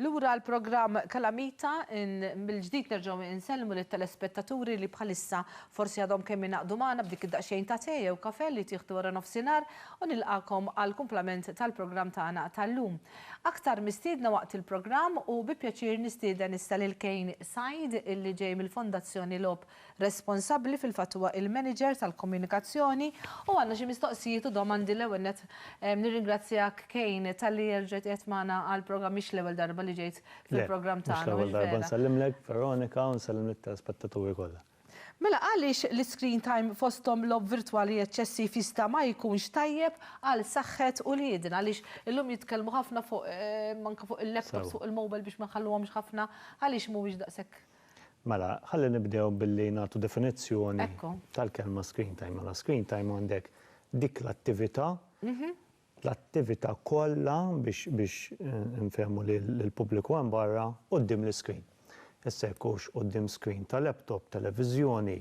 Lura l-programm Kalamita, mill-ġdid nerġgħu insellmu lit-telespettaturi li bħalissa forsi għadhom kemm ingħaqdu magħna b'dik id-daqsxejn ta' te jew kafè li tieħdu wara nofsinhar u nilqagħkom għall-kumplament tal-programm tagħna tal-lum. Aktar mistiedna waqt il-programm u bi pjaċir nistieden issa lil Kane Said illi ġej mill-Fondazzjoni Logħob responsabbli fil-fatt huwa il-manager tal-komunikazzjoni u għandna xi mistoqsijiet u domandi l-ewwel nett nirringrazzjak Cain talli erġajt qiegħed magħna għall-programm mhix l-ewwel darba li ġejt fil-programm tagħna mhux vera? Le, mhux l-ewwel darba nsellimlek Veronika u nsellem lit-telespettaturi kollha. Mela għaliex l-iscreen time fosthom logħob virtwali eċċessiv jista' ma jkunx tajjeb għal saħħet uliedna għaliex illum jitkellmu ħafna fuq anke fuq il-laptops fuq il-mobile biex ma nħalluhomx ħafna għaliex mhuwiex daqshekk Mela, ħalli nibdew billi nagħtu definizzjoni tal-kelma screen time. Mela, screen time għandek dik l-attività, l-attività kollha biex infehmu lill-pubbliku hemm barra quddiem l-iskrin. Issa jekk hux quddiem screen ta' laptop, televiżjoni,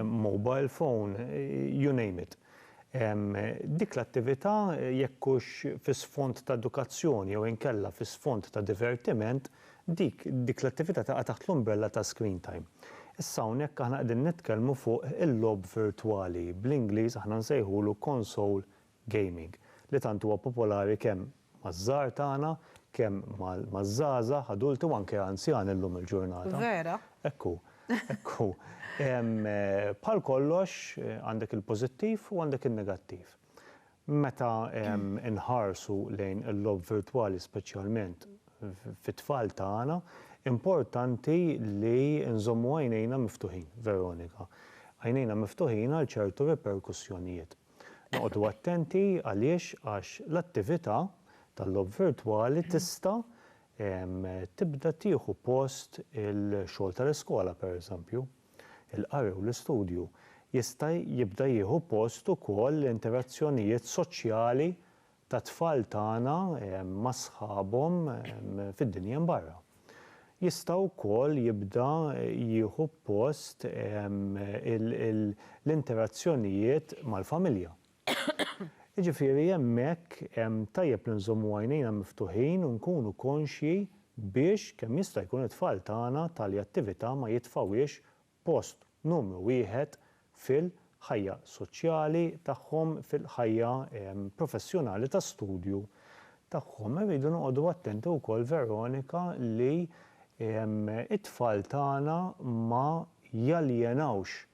mobile phone, you name it. Dik l-attività jekk hux fi sfond ta' edukazzjoni jew inkella fi sfond ta' divertiment, Dik, dik l-attività taqa' taħt l-umbrella ta' screen time. Issa hawnhekk aħna qegħdin nitkellmu fuq il-logħob virtwali, bl-Ingliż aħna nsejħulu console gaming, li tant huwa popolari kemm maż-żgħar tagħna, kemm maż-żgħażagħ, adulti u anke anzjani llum il-ġurnata. Vera. Hekk hu, hekk hu. Bħal kollox, għandek il-pożittiv u għandek in-negattiv. Meta nħarsu lejn il-logħob virtwali speċjalment fit-tfal tagħna, importanti li nżommu għajnejna miftuħin, Veronika. Għajnejna miftuħin għal ċertu riperkussjonijiet. Noqogħdu attenti għaliex għax l-attività tal-logħob virtwali tista' tibda tieħu post il-xogħol tal-iskola, pereżempju. Il-qari u l-istudju jista' jibda jieħu post ukoll l-interazzjonijiet soċjali tat-tfal tagħna ma' sħabhom fid-dinja mbarra. Jista' wkoll jibda jieħu post l-interazzjonijiet mal-familja. Jiġifieri hemmhekk tajjeb li nżommu għajnejna miftuħin u nkunu konxji biex kemm jista' jkun it-tfal tagħna tali attività ma jitfgħuhiex post numru wieħed fil-ħajja soċjali tagħhom, fil-ħajja professjonali ta' studju tagħhom. Irridu noqogħdu attenti wkoll Veronika li t-tfal tagħna ma jaljenawx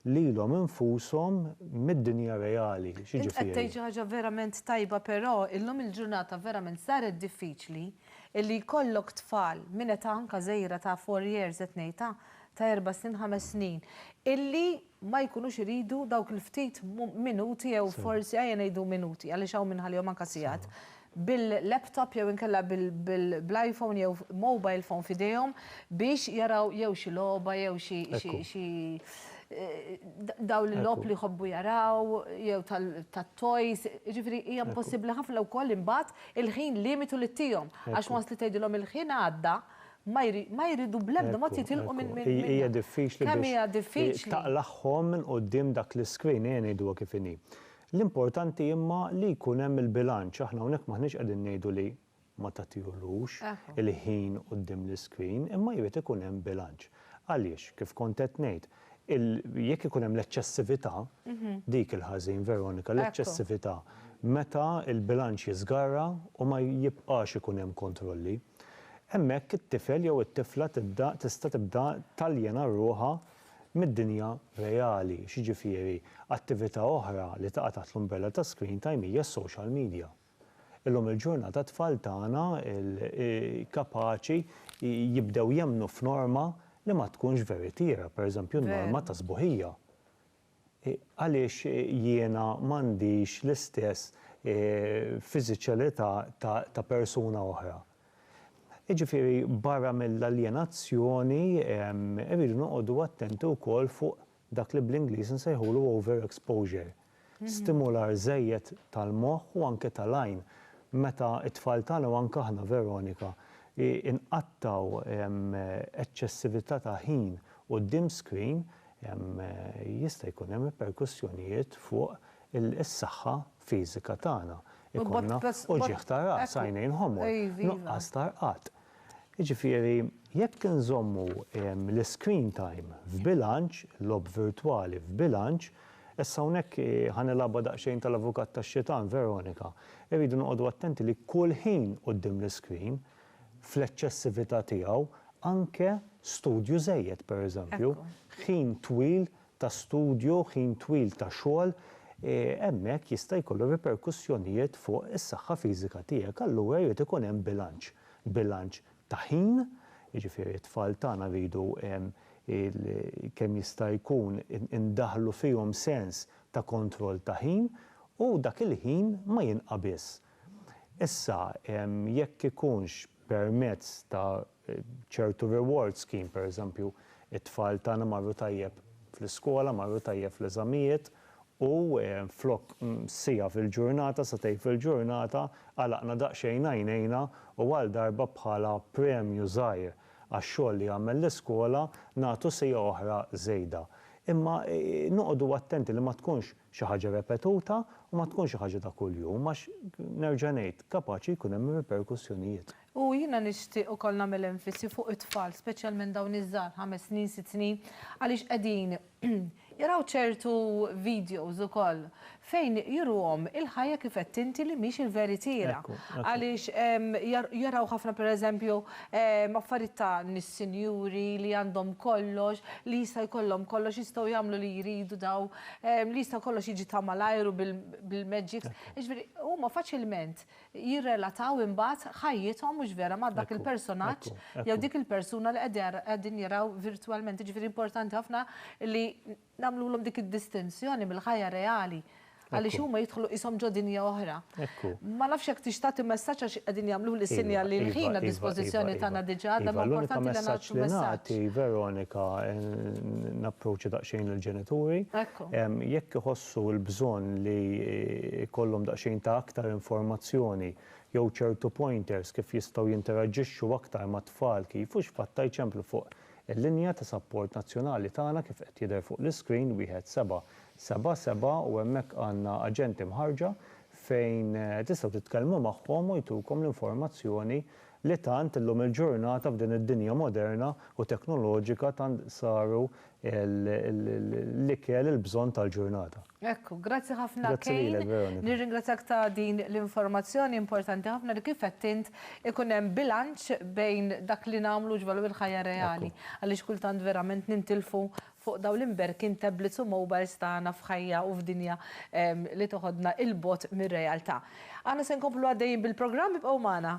lilhom infushom mid-dinja reali. Int qed tgħid xi ħaġa verament tajba però illum il-ġurnata verament saret diffiċli illi jkollok tfal minn età anka żgħira ta' four years qed ngħid ta' ta' erba' snin ħames snin illi ma jkunux iridu dawk il-ftit minuti jew forsi ejja ngħidu minuti għaliex hawn min iħallihom anka sigħat bil-laptop jew inkella bl-iPhone jew mobile phone f'idejhom biex jaraw jew xi logħba jew xi xi dawn il-logħob li jħobbu jaraw jew tat-toys, jiġifieri hija impossibbli ħafna wkoll imbagħad il-ħin limitu li tihom għax once li tgħidilhom il-ħin għadda ma jridu bl-ebda mod jitilqu minn minn minn Hija diffiċli biex taqlagħhom minn quddiem dak l-iscreen ejja ngħiduha kif inhi. L-importanti imma li jkun hemm il-bilanċ, aħna hawnhekk m'aħniex qegħdin ngħidu li ma tagħtihlux il-ħin quddiem l-iscreen, imma jrid ikun hemm bilanċ. Għaliex, kif kont qed ngħid, il, jekk ikun hemm l-eċċessività, dik il-ħażin, Veronika, l-eċċessività, meta l-bilanċ jiżgarra u ma jibqax ikun hemm kontrolli, hemmhekk it-tifel jew it-tifla tibda, tista' tibda taljena ruħha mid-dinja reali, x'jiġifieri attività oħra li taqa' taħt l-umbrella ta' screen time hija s-social media. Illum il-ġurnata t-tfal tagħna kapaċi jibdew jemmnu f'norma li ma tkunx veritiera, pereżempju n-norma tas-sbuħija. Għaliex jiena m'għandix l-istess fiżiċalità ta' persuna oħra? Jiġifieri barra mill-aljenazzjoni irridu noqogħdu attenti wkoll fuq dak li bl-Ingliż insejħulu overexposure. Stimular żejjed tal-moħħ u anke tal-għajn. Meta t-tfal tagħna u anke aħna Veronika nqattgħu eċċessività ta' ħin quddiem screen jista' jkun hemm riperkussjonijiet fuq is-saħħa fiżika tagħna. Ikollna uġigħ ta' ras, għajnejn ħomor, nuqqas ta' rqad. Jiġifieri jekk inżommu l-iscreen time f'bilanċ, il-logħob virtwali f'bilanċ, issa hawnhekk ħa nilgħabha daqsxejn tal-avukat tax-xitan, Veronika, irridu noqogħdu attenti li kull ħin quddiem l-iscreen fl-eċċessività tiegħu, anke studju żejjed, pereżempju, ħin twil ta' studju, ħin twil ta' xogħol, hemmhekk jista' jkollu riperkussjonijiet fuq is-saħħa fiżika tiegħek. Allura jrid ikun hemm bilanċ, bilanċ ta' ħin, jiġifieri t-tfal tagħna rridu kemm jista' jkun indaħħlu fihom sens ta' kontroll ta' ħin u dak il-ħin ma jinqabiżx. Issa, jekk ikunx permezz ta' ċertu reward scheme, pereżempju, it-tfal tagħna marru tajjeb fl-iskola, marru tajjeb fl-eżamijiet u flok siegħa fil-ġurnata, sagħtejn fil-ġurnata, għalaqna daqsxejn għajnejna u għal darba bħala premju żgħir għax-xogħol li għamel l-iskola nagħtu siegħa oħra żejda. Imma noqogħdu attenti li ma tkunx xi ħaġa repetuta u ma tkunx xi ħaġa ta' kuljum għax, nerġa' ngħid, kapaċi jkun hemm riperkussjonijiet. U jiena nixtieq ukoll nagħmel enfisi fuq it-tfal, speċjalment dawn iż-żgħar, ħames snin, sitt snin, għaliex qegħdin jaraw ċertu videos ukoll fejn juruhom il-ħajja kif għedt inti li mhix il-veritiera. Għaliex jaraw ħafna pereżempju affarijiet ta' nies sinjuri li għandhom kollox, li jista' jkollhom kollox, jistgħu jagħmlu li jridu daw, li jista' kollox jiġi ta' malajr u bil-magics. Jiġifieri huma faċilment jirrelataw imbagħad ħajjithom mhux vera ma' dak il-personaġġ jew dik il-persuna li qegħdin jaraw virtwalment. Jiġifieri importanti ħafna li nagħmlulhom dik id-distinzjoni mill-ħajja reali għaliex huma jidħlu qishom ġo dinja oħra. Ekku. Ma nafx jekk tix tagħti messaġġ għax qegħdin jagħmluli sinjal li l-ħin għad-dispożizzjoni tagħna diġà għadha ma importanti li nagħtu messaġġ. Iva, l-unika messaġġ li nagħti, Veronika, napproċċja daqsxejn lill-ġenituri. Ekku. Jekk iħossu l-bżonn li jkollhom daqsxejn ta' aktar informazzjoni jew ċertu pointers kif jistgħu jinteraġġixxu aktar mat-tfal kif u x'fatt ta' jċemplu fuq il-linja ta' sapport nazzjonali tagħna kif qed jidher fuq l-iscreen wieħed seba' Seba' seba' u hemmhekk għandna aġenti mħarrġa fejn tistgħu titkellmu magħhom u jtukom l-informazzjoni li tant illum il-ġurnata f'din id-dinja moderna u teknoloġika tant saru l-ikel il-bżonn tal-ġurnata. Ekku, grazzi ħafna Kane. Grazzi lilek Veronika. Nirringrazzjak ta' din l-informazzjoni importanti ħafna li kif għedt int ikun hemm bilanċ bejn dak li nagħmlu u x'valur il-ħajja reali għaliex kultant verament nintilfu Fuq dawn l-imberkin tablets u mobiles tagħna f'ħajja u f'dinja li toħodna 'il bogħod mir-realtà. Aħna se nkomplu għaddejjin bil-programm, ibqgħu magħna.